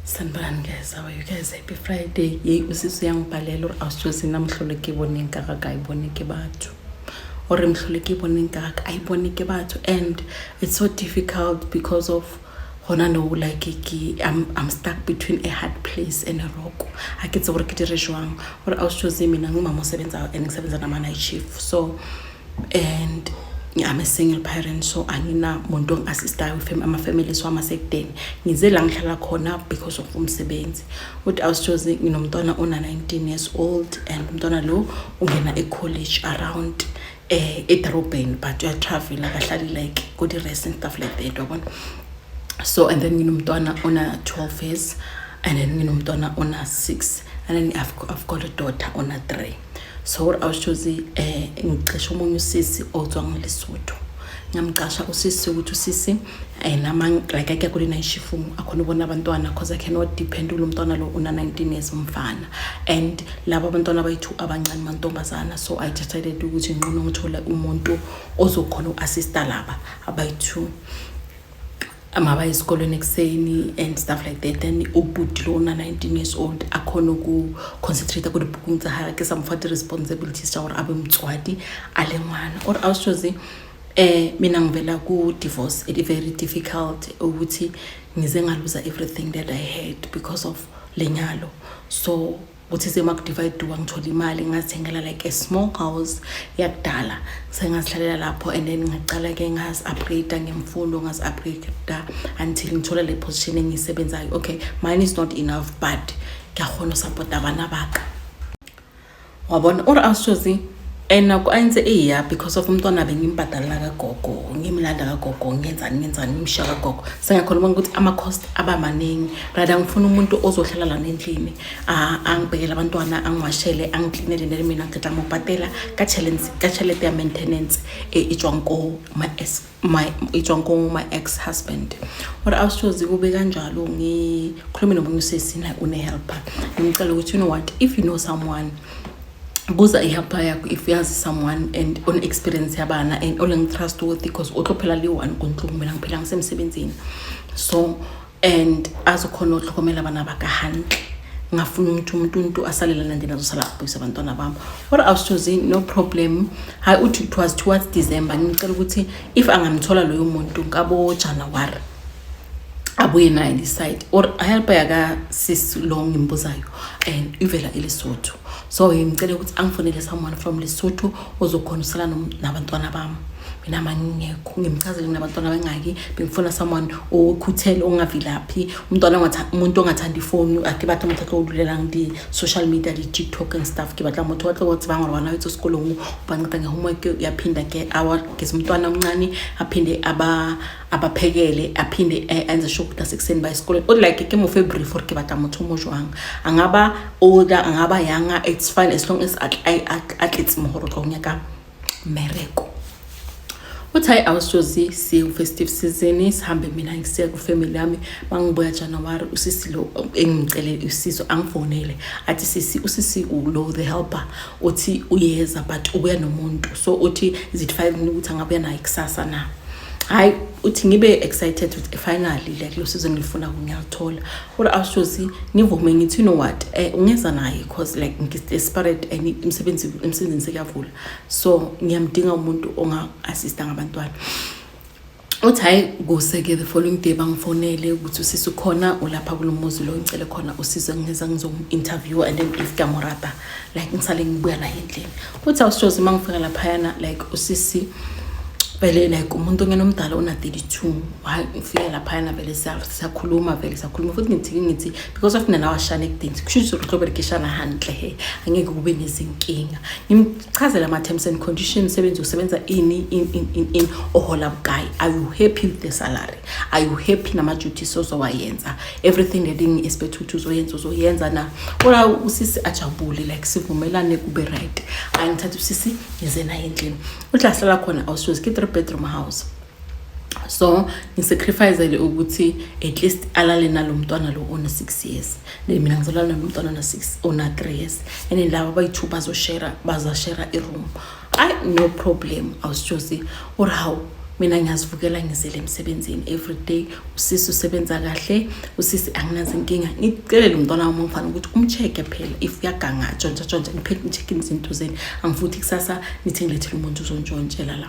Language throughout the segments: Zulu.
sanibani guys how are you guys happy friday yeyi usisi uyangibhalela uri awusijozi namhluleke ibone ngaka kayiboneke batho or mhluleke ibone ngaka ayiboneke batho and it's so difficult because of gona no like ke I'm, i'm stuck between a hard place and a rock a ke tse gore ke dire jwang gore awusijozi mina ngumama o sebenzao and ke sebenzana ma night shift so and I'm a single parent so anginamuntu ongi-assistayo ama-family so amasekudeni ngize la ngihlala khona because of umsebenzi uthi awusjozi nginomntwana ona-19 years old and umntwana lo ungena e-college around eh edorobheni but uyatravela akahlali like good rest and stuff like that wabona so and then nginomntwana ona-12 years and then nginomntwana ona-6 and then I've, I've got a daughter ona-3 so what i was choose eh ngicisha omunye usisi otswa ngolesotho ngamcasha usisi ukuthi usisi eh nama like ake kule night shift akhona ubona abantwana because i cannot depend kulo mntwana lo una 19 years umfana and laba abantwana bayithu abancane mantombazana so i decided ukuthi nqono ngithole umuntu ozokhona uassista laba abayithu mabaye esikolweni ekuseni and stuff like that then ubhuti lo una-nineteen years old akhona uku-concentrate kule booking tsa gage ke sa mofa di-responsibilities tsa gore a be motswadi a le ngwana or a setsose um eh, mina ngivela ku-divorce it very difficult ukuthi ngize ngaluza everything that i had because of lenyalo so kuthi semakudivayiduka ngithola imali ngazithengela like a small house yakudala sengazihlalela lapho and then ngaqala-ke ngazi-upgrade ngemfundo ngazi-upgrade until ngithola le position engiyisebenzayo okay mine is not enough but ngiyakhona usapota abana baka wabona or awusozi and naku ayenze eya because of umntwana bengimbhadalela kagogo ngimlanda kagogo ngenzani ngenzani ngimshiya kagogo sengakhona ubona ukuthi ama-cost aba maningi rather ngifuna umuntu ozohlala lana endlini a a ngibhekele abantwana angiwashele angiklinele nele mina ngiceda ngibhatela ka challenge ka chalete ya maintenance e itswang ko my ex my itswang ko my ex husband or i was choose kube kanjalo ngikhulume nomunye usisi na une helper ngicela ukuthi you know what if you know someone buza ihelper yakho if uyazi someone and on experience yabana and olengitrustworthy because otlophela liyi-one kuntlungu mina ngiphela ngisemsebenzini so and azokhona ukuhlokomela abana baka hantle ngafuna umuntu umuntu umuntu asalelana nje nazosala kubuyisa abantwana bami or awusithozi no problem hayi uthi it was towards december ngicela ukuthi if angamthola loyo muntu ngabo january abuye naye decide or help yaka sis lo ngimbuzayo and ivela elesotho so ngicela ukuthi angifonele someone from lesotho ozokhonusela nabantwana bami mina mangingekho ngimchazele nginabantwana bengaki bengifuna someone okhuthele ongavilaphi umntwana umuntu ongathandi ifoni ake batha umuntu atlowululela ngidi social media di-tiktok and stuff ke batla motho watle wathi bangora wana wethu esikolong ubanceda nge-homework yaphinda ke awageza umntwana omncane aphinde aba abaphekele aphinde enze sure ukuthi asekuseni ba esikoleni o like ke mo february for ke batla motho mo jwang angaba older angaba younger it's fine as long as atletse mohoro tlo nyaka mereko uthi hayi awusozi siwu-festive season sihambe mina ngisiya kwifamily yami bangibuya januwari usisi lo engicele usizo angifonele athi sisi usisi ulo the helper uthi uyeza but ubuya nomuntu so uthi is it five ukuthi angabuya naye kusasa na hayi uthi ngibe excited ukuthi finally like lo sizo ngilifuna ngiyalithola kodwa awushozi ngivume ngithi you know what eh ungeza naye cause like ngi-desperate and imsebenzi emsebenzini sekuyavula so ngiyamdinga umuntu onga-assista ngabantwana uthi hhayi kuse-ke the following day bangifonele ukuthi usisi ukhona ulapha kulo muzi lo ngicele khona usizo ngingeza ngizomu-interview and then if kamorata like ngisale ngibuya naye endlini Uthi awusithozi uma ngifika laphayana like usisi vele like umuntu ongena omdala ona-32 hayi ngifike laphayana vele siyakhuluma vele siyakhuluma futhi ngithike ngithi because of mina nawashana ekudeni kusho ukuthi ukuthi loberekishana handle he angeke kube nezinkinga ngimchazele ama-terms and conditions sebenzi usebenza ini in in in in ohola bukayi are you happy with the salary are you happy nama-duties ozowayenza everything elingi esibethu ukuthi uzoyenza uzoyenza na kola usisi ajabule like sivumelane kube right hayi ngithatha usisi ngize naye endlini uthi ahlala khona awusuzi ki-three bedroom house so ngisacrificele ukuthi at least alale nalo mntwana lo ona-six years then mina ngizolala nalo mntwana ona-six ona-three years and then laba bayi-two bazoshera bazashera i-room Ay no problem awusjosi or how mina ngiyazivukela ngizele emsebenzini every day usisi usebenza kahle usisi anginazi inkinga ngicelele umntwana wami ongifana ukuthi umcheck-e phela if uyaganga tshontsha tshontsha ngiphele ngicheck-e izinto zeni angifuthi kusasa nithi ngilethele umuntu uzontshontshe la la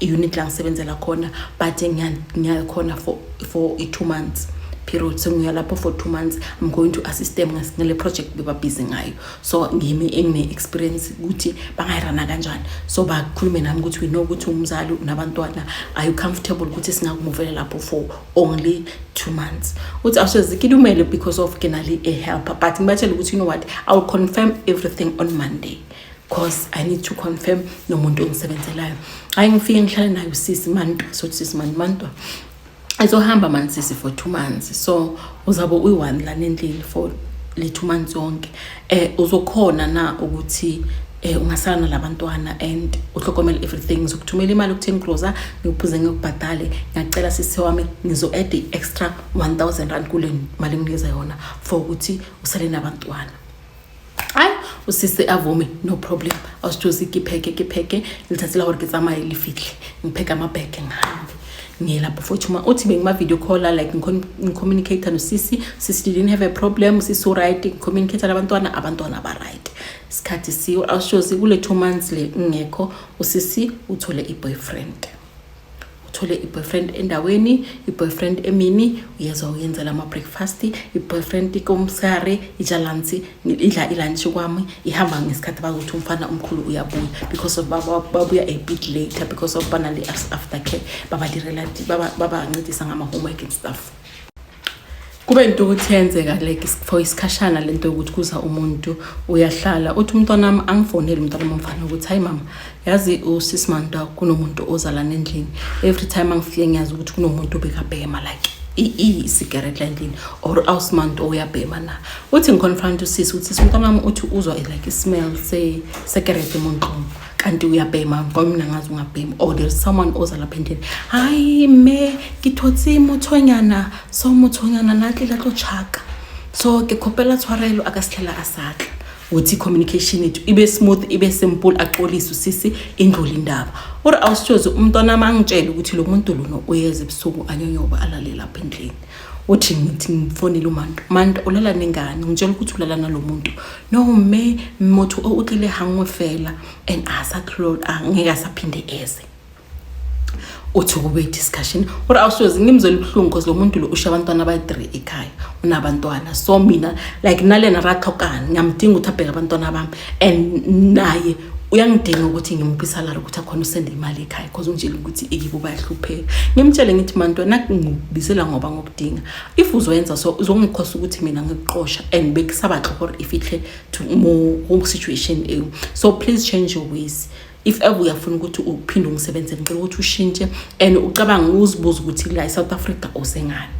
i-unit la ngisebenzela khona but ngiyakhona for, for i-two months period so ngiya lapho for two months i'm going to assist them ngale project bebabhizi ngayo so ngimi engine-experience ukuthi bangayirana kanjani so bakhulume nami ukuthi we know ukuthi umzali unabantwana are you comfortable ukuthi singakumuvele lapho for only two months uthi awusezikilumele because of kenali a-helper but ngibatshele ukuthi you know what i will confirm everything on monday cause i need to confirm nomuntu ongisebenzelayo hayi ngifike ngihlale naye usisi mantwa sothi sisi mani mantwa ezohamba mani sisi for two months so uzabe uyi-one lana endlini for le two months yonke um uzokhona na ukuthi eh ungasala nalabantwana and uhlokomela everything ngizokuthumela imali ku-10 grosa ngikuphuze ngikubhadale ngiyacela sisi wami ngizo-add i-extra 1000 rand kule mali enginikeza yona for ukuthi usale nabantwana ai usisi avume no problem awusithosi ke pheke ke pheke litsatsi la gore ke tsamaye le fitlhe ngipheka amabheke ngihambe ngiyelapho futhi uma uthi bengima-video caller like ngicommunicate nosisi sisi didn't have a problem sisi uright ngicommunicate nabantwana abantwana ba-right isikhathi siyo awushozi kule two months le ngingekho usisi uthole i-boyfriend uthole i-boyfriend endaweni i-boyfriend emini uyezwa uyenzela ama-breakfast i-boyfriend ikomsare ijalansi idla ilunch kwami ihamba ngesikhathi bakuthi umfana omkhulu uyabuya because of babuya a bit later because of banale after care babancedisa ngama-homework and stuff kube into ukuthi yenzeka like for isikhashana lento yokuthi kuza umuntu uyahlala uthi umntwana wami angifonele umntwana wami ukuthi hayi mama yazi usisi manda kunomuntu ozalana endlini every time angifike ngiyazi ukuthi kunomuntu obekabhema like isigaret la endlini or awusimantu oyabhema na uthi ngiconfront usisi ukuthi umntwana wami uthi uzwa like ismell sekerete emunqomo kanti uyabhema ngoba mina ngazi ungabhemi or there is someone oza lapha endlini hayi me ngithotse muthonyana so muthonyana nantle la tlo chaka so ke khopela tshwarelo a ka sithlela a satla uthi communication yethu ibe smooth ibe simple axolise usisi indlule indaba uri awusitshozi umntwana amangitshela ukuthi lo muntu lona uyeza ebusuku anyonyoba alale lapha endlini uthi ngithi ngifonile umanto manto ulala nengane ngitshela ukuthi ulala nalo muntu no me motho o utlile hangwe fela and asa close angeke asaphinde eze uthi kube discussion uri awusoze ngimzwela ubuhlungu because lo muntu lo usha abantwana abayi-three ekhaya unabantwana so mina like nalena rathokani ngiyamdinga ukuthi abheke abantwana bami and naye uyangidinga ukuthi ngimuphe isalary ukuthi akhona usende imali ekhaya because ungitshela ukuthi iyibo bayahlupheka ngimtshele ngithi manto nakungibizela ngoba ngokudinga if uzoyenza so uzongikhosa ukuthi mina ngikuqosha and bekusaba tlhor if ihle to more home situation ewu so please change your ways if ever uyafuna ukuthi uphinde ungisebenzele ngicela ukuthi ushintshe and ucabanga uzibuza ukuthi la e-south africa usengani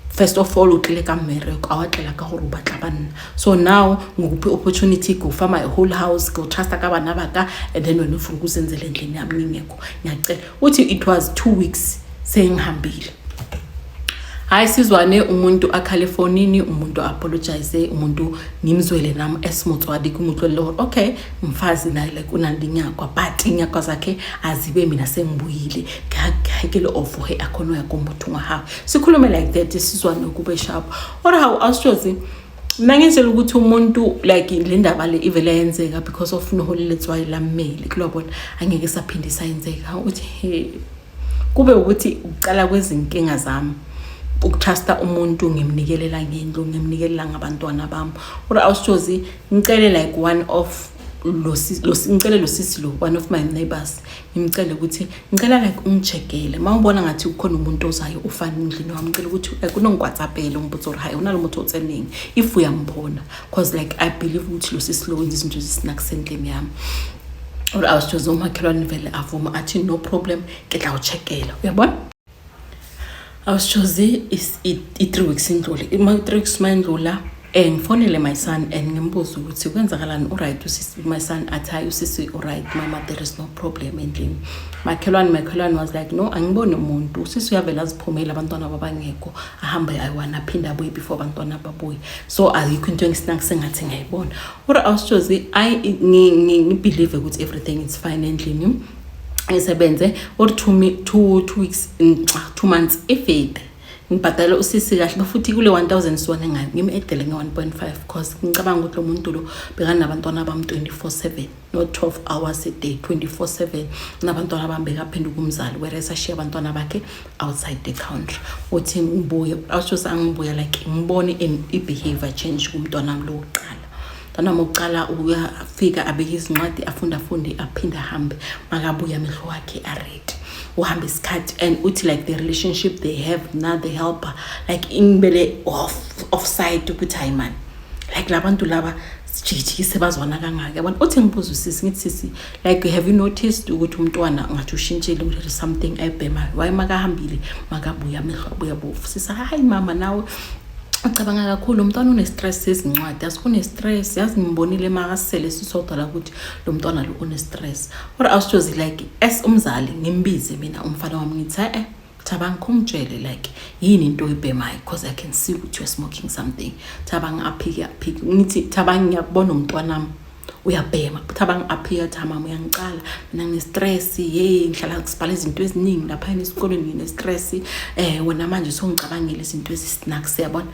first of all o tlile ka mmereko a wa tlela ka gore o batla banna so now ngikuphi opportunity go fa my whole house go trusta ka bana baka and then wena ufuna ukusenzela endlini yami ngingekho ngiyacela uthi it was two weeks sengihambile hayi sizwane umuntu akhale efonini umuntu apologize umuntu ngimzwele nami esimutswadi kumutlolele gore okay mfazi naye like unandi inyakwa but inyakwa zakhe azibe mina sengibuyile ngakekele ovuhe akhona uyakombuthunga hawu sikhulume like that sizwa nokube sharp or how awushozi mina ngenzela ukuthi umuntu like le ndaba le ivele yenzeka because of noholi letswayi lammeli kulobona angeke saphinde sayenzeka uthi he kube ukuthi ukuqala kwezinkinga zami ukutrusta umuntu ngimnikelela ngendlu ngimnikelela ngabantwana bami or awushozi ngicele like one of lo ngicele lo sisi lo one of my neighbors ngimcele ukuthi ngicela like ungijekele uma ubona ngathi kukhona umuntu ozayo ufana endlini wami ngicela ukuthi like unongikwatsapele umbuzo or hayi unalo muntu otseningi if uyambona because like i believe ukuthi lo sisi lo wenza izinto ezisinakusendlini yami or awusithoze umakhelwane vele avuma athi no problem ke dla uchekela uyabona awusitshozi i-three weeks indlule ima-three weeks uma indlula um eh, ngifonele my son and ngimbuze ukuthi kwenzakalani uright my son athi hayi usisi uright mama there is no problem endlini makhelwane makhelwane was like no angiboni umuntu usisi uyavele aziphumele abantwana babangekho ahambe ayiwana aphinde abuye before abantwana babuye so ayikho into engisinaki sengathi ngiyayibona ura awusitshozi i ngibhilive ukuthi everything is fine endlini ngisebenze or two, two, two weeks mm, two months ifide ngibhadale usisi kahle bafuthi kule 1000 siwona ngani ngimedele nge-1.5 cause ngicabanga ukuthi lo muntu lo bekanabantwana bami 24/7 no 12 hours a day 24/7 nabantwana bami bekaphenduka umzali whereas ashiya abantwana bakhe outside the country uthi ngibuye awushose angibuya like ngibone i-behavior change kumntwana wami lokuqala Mntanami uqala ukufika abeke izincwadi afunde afunde aphinde ahambe makabuye amehlo wakhe aredi uhamba isikhathi and uthi like the relationship they have now the helper like ingibele off offside ukuthi hayi mani like labantu laba sijikijikise bazwana kangaka yabona uthi ngibuza usisi ngithi sisi like have you noticed ukuthi umntwana ngathi ushintshile ukuthi something ayibhemayo waye makahambile makabuya amehlo abuya bofu sisa hayi mama nawe ucabanga kakhulu umntwana une-stress sezincwadi asikunestress yazi ngimbonile makasele sisodwa la ukuthi lo mntwana lo une-stress or awusithozi like as umzali ngimbize mina umfana wami ngithi e-e Thabang khumtshele like yini into oyibhemayo because I can see ukuthi you're smoking something. Thabang aphike aphike. Ngithi Thabang ngiyakubona umntwanami uyabhema but abang appear tha mama uyangicala mina nginestress hey ngihlala ngisibhala izinto eziningi lapha esikoleni nginestress eh wena manje songicabangela izinto ezisnack siyabona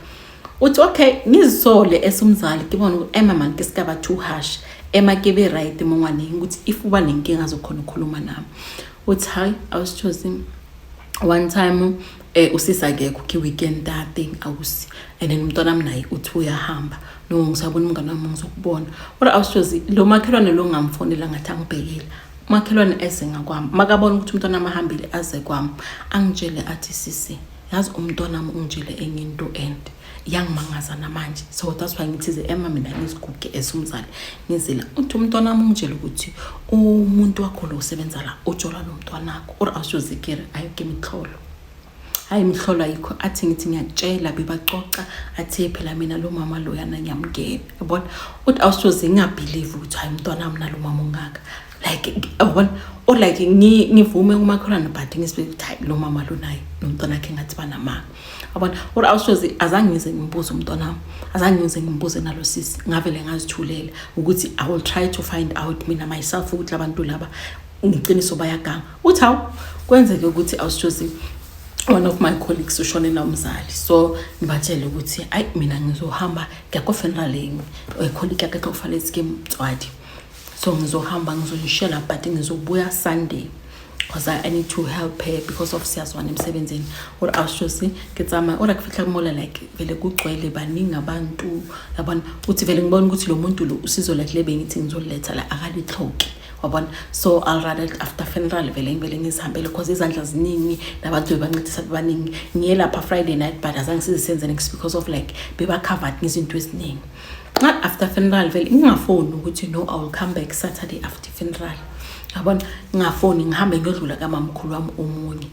uthi okay ngizisole esumzali kibona ukuthi ema man ke sikaba too harsh ema ke be right mongwane ukuthi if uba nenkinga zokhona ukukhuluma nami uthi hayi i was choosing one time Eh usisi akekho ki weekend that thing awusi and then umntwana wami naye uthi uyahamba no ngisabona umngane wami ngizokubona kodwa awushozi lo makhelwane lo ngamfonela ngathi angibhekile umakhelwane eze ngakwami makabona ukuthi umntwana wami ahambile aze kwami angitshele athi sisi yazi umntwana wami ungitshele enye into and yangimangaza namanje so that's why ngithize ema mina ngiziguge esumzali ngizila uthi umntwana wami ungitshela ukuthi umuntu wakho lo usebenza la ujola nomntwanakho or awusuzikiri ayike imihlolo hayi imihlolo ayikho athi ngithi ngiyakutshela bebacoca athe phela mina lo mama loyana ngiyamngena yabona uthi awusuze ngingabhilive ukuthi hayi umntwana wami nalo mama ongaka like yabona or like ngivume umakhelwane but ngisibeke ukuthi hayi lo mama lo naye nomntwana wakhe ngathi banamanga yabona kodwa awusoze azange ngize ngimbuze umntwana wami azange ngize ngimbuze nalo sisi ngavele ngazithulela ukuthi i will try to find out mina myself ukuthi labantu laba ngiqiniso bayaganga uthi hawu kwenzeke ukuthi awusoze one of my colleagues ushone nomzali so ngibatshele ukuthi ayi mina ngizohamba ngiyakofuneral yimi ecolleague yakhe kufanele sike mtswadi so ngizohamba ngizonishela but ngizobuya sunday because I, I need to help her because of siyazwana emsebenzini or awushosi ke tsamaya ora kufihla kumola like vele kugcwele baningi abantu yabona uthi vele ngibona ukuthi lo muntu lo usizo lakhe le bengithi ngizoletha la akalithloki wabona so i'll rather after funeral vele ngivele ngizihambele because izandla ziningi nabantu bebancedisa bebaningi ngiye lapha friday night but azange sizisenze next because of like bebacovered ngezinto eziningi nxa after funeral vele ngingafoni ukuthi no i will come back saturday after funeral yabona ngingafoni ngihambe ngiyodlula kamamkhulu wami omunye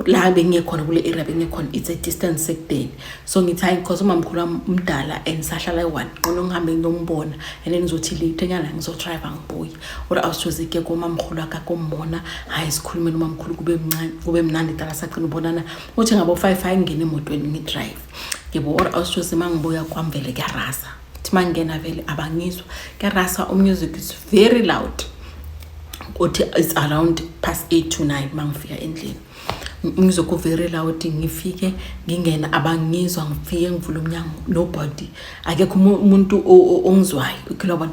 la bengiyekhona kule area bengiyekhona it's a distance sekudeni so ngithi hayi because umamkhulu wami umdala and sahlala eyi-one nqono ngihambe ngiyombona and then ngizothi late enyana ngizodrayiva ngibuye or awusizozike komamkhulu akakombona hhayi sikhulume nomamkhulu kube mncane kube mnandi dala sagcina ubonana uthi ngabo-five hayi ngingene emotweni ngidrayive yebo or awushoze uma ngibuya kwami vele kuyarasa kuthi uma ngingena vele abangizwa kuyarasa umusic is very loud kuthi it's around past eight to nine uma ngifika endlini ngizokuvelela ukuthi lawuthi ngifike ngingena abangizwa ngifike ngivula umnyango nobody akekho umuntu ongizwayo ukhila bona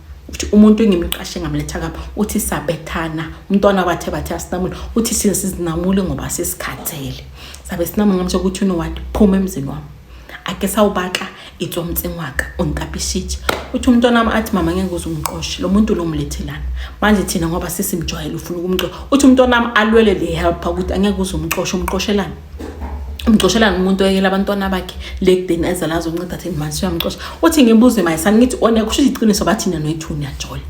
uthi umuntu engimqashe ngamletha kami uthi sabethana umntwana bathe bathe asinamule uthi sile sizinamule ngoba sesikhathele sabe sinamule ngamsho ukuthi unowati phuma emzini wami ake sawubaka itswa umtsengi waka untapishitshe uthi umntwana wami athi mama ngeke uze umqoshe lo muntu lo mlethelana manje thina ngoba sisimjwayele ufuna ukumxosha uthi umntwana wami alwele le helper ukuthi angeke uze umxoshe umqoshelani umxoshelani umuntu oyekela abantwana bakhe le kudeni ezala azonceda thini manje siyamxosha uthi ngibuze mayisani ngithi one kusho iqiniso bathi nina noyi-two niyajola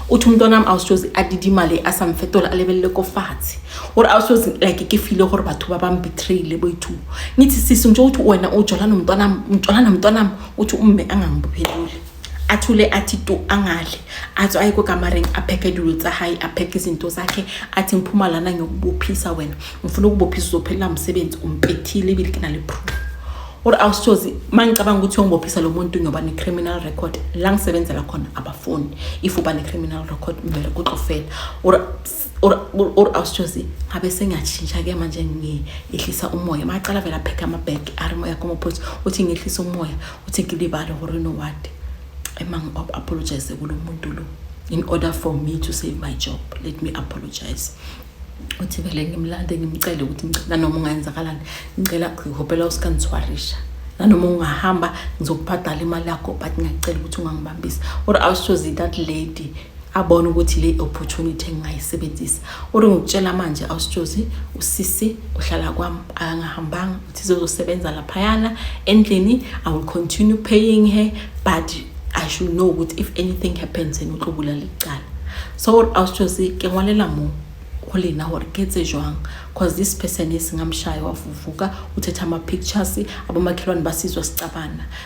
uthi umntwana wami awusoze adide imali asamfetola alebelele kofathi or awusoze like ke file gore batho ba bang betrayile boyi-two ngithi sisi nje ukuthi wena ujola nomntwanam ujola nomntwanam uthi umme angangibopheleli a thule a thi to a ngadli athi aye kwekamareng apheke dilo tsa hayi apheke izinto zakhe athi ngiphuma lana ngiyokubophisa wena ngifuna ukubophisa uzophelela msebenzi umpethile ibili ke nale proof or awusichozi mangicabanga ukuthi uyongibophisa lo muntu ngiyoba ne-criminal record la ngisebenzela khona abafuni if uba ne-criminal record kumele kuxofela or or ausjosi ngabe sengiyatshintsha ke manje ngiyehlisa umoya macala vele apheke amabag ari moya komophothi uthi ngehlisa umoya uthi ngilibale gore no what ema ngi-apologize kulo muntu lo in order for me to save my job let me apologize uthi vele ngimlande ngimcele ukuthi nanoma ungayenzakalani ngicela ngihopela usikandiswarisha nanoma ungahamba ngizokubhadala imali yakho but ngiyacela ukuthi ungangibambisi or awushozi that lady abone ukuthi le opportunity engingayisebenzisa uri ngikutshela manje awusitshozi usisi uhlala kwami akangahambanga uthi zozosebenza laphayana endlini i will continue paying her but i should know ukuthi if anything happens and utlobula licala so awusitshozi ke ngwalela mo go lena gore ke tse jwang cause this person e sengamshaye wavuvuka uthetha ama-pictures abomakhelwane basizwa sicabana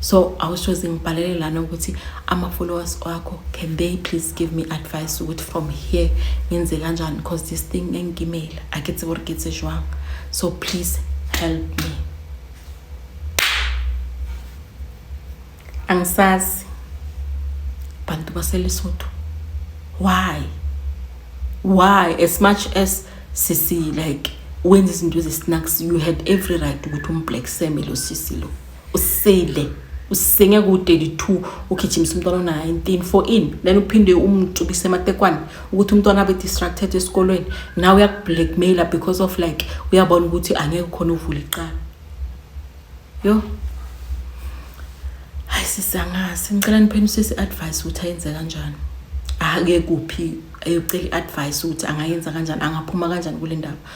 so i was just ngibhalele lana ukuthi ama-followers wakho can they please give me advice ukuthi from here ngenze kanjani because this thing engigimela a ke tsebo re ke tse jwang so please help me angisazi bantu baselesotho why why as much as sisi like wenza izinto ezi-snacks you had every right ukuthi umblack same lo sisi lo usile usenge ku-32 ugijimisa umntwana ona-19 for in then uphinde umtsukise ematekwane ukuthi umntwana abe distracted esikolweni nawe uyakublackmaila because of like uyabona ukuthi angeke khona uvula iqala yo hayi sisi angazi ngicela niphenisise i-advice ukuthi ayenze kanjani ake kuphi ayocela i-advice ukuthi angayenza kanjani angaphuma kanjani kule ndaba